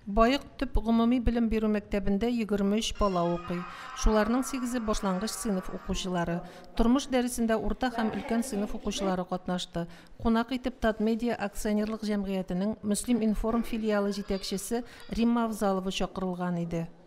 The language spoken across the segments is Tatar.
Баек төп гомуми белем бирү мәктәбендә 23 бала укый. Шуларның сигезе башлангыч сыйныф укучылары. Тормыш дәресендә урта һәм өлкән сыйныф укучылары катнашты. Кунак итеп Татмедиа акционерлык җәмгыятенең Мөслиминформ филиалы җитәкчесе Римма Авзалова чакырылган иде.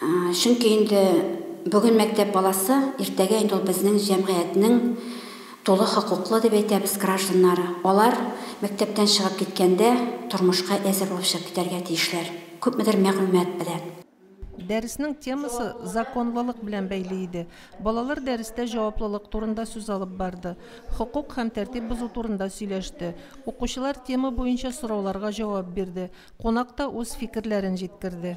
Чөнки инде бүген мәктәп баласы, иртәгә инде ул безнең җәмгыятьнең тулы хокуклы, дип әйтәбез, гражданнары. Алар мәктәптән чыгып киткәндә тормышка әзер булып чыгып китәргә тиешләр, күпмедер мәгълүмат белән. Дәреснең темасы законлылык белән бәйле иде. Балалар дәрестә җаваплылык турында сүз алып барды, хокук һәм тәртип бозу турында сөйләште. Укучылар тема буенча сорауларга җавап бирде, кунак та үз фикерләрен җиткерде.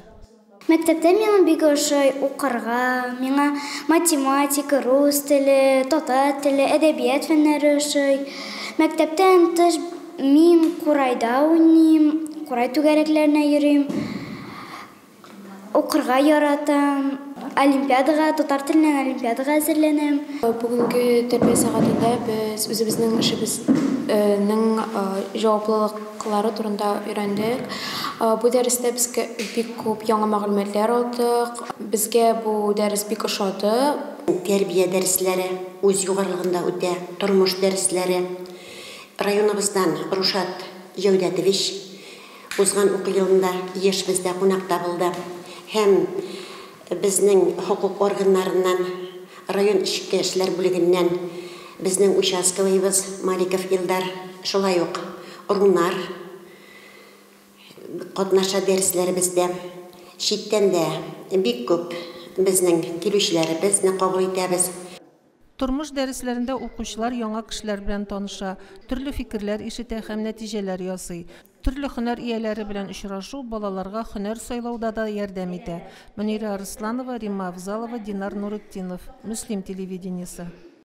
Мәктәптә миңа бик ошый укырга, миңа математика, рус теле, татар теле, әдәбият фәннәре ошый. Мәктәптән тыш мин курайда уйныйм, курай түгәрәкләренә йөрим, укырга яратам, олимпиадага, татар теленнән олимпиадага әзерләнәм. Бүгенге тәрбия сәгатендә без үзебезнең эшебезнең җаваплылык. кылары турында өйрәндек. Бу дәрестә безгә бик күп яңа мәгълүматлар алдык. Безгә бу дәрес бик ошады. Тәрбия дәресләре үз югарылыгында үтә, тормыш дәресләре. Районыбыздан Рушат Җәүдәтович узган уку елында еш бездә кунакта булды һәм Безнең хокук органнарыннан, район эчке эшләр бүлегеннән безнең участковыйыбыз Маликов Илдар, шулай ук Рунар катнаша дәресләребездә. Читтән дә бик күп безнең килүчеләребезне кабул итәбез. Тормыш дәресләрендә укучылар яңа кешеләр белән таныша, төрле фикерләр ишетә һәм нәтиҗәләр ясый. Төрле һөнәр ияләре белән очрашу балаларга һөнәр сайлауда да ярдәм итә. Мөнирә Арысланова, Римма Авзалова, Динар Нуретдинов. Мөслим телевидениесе.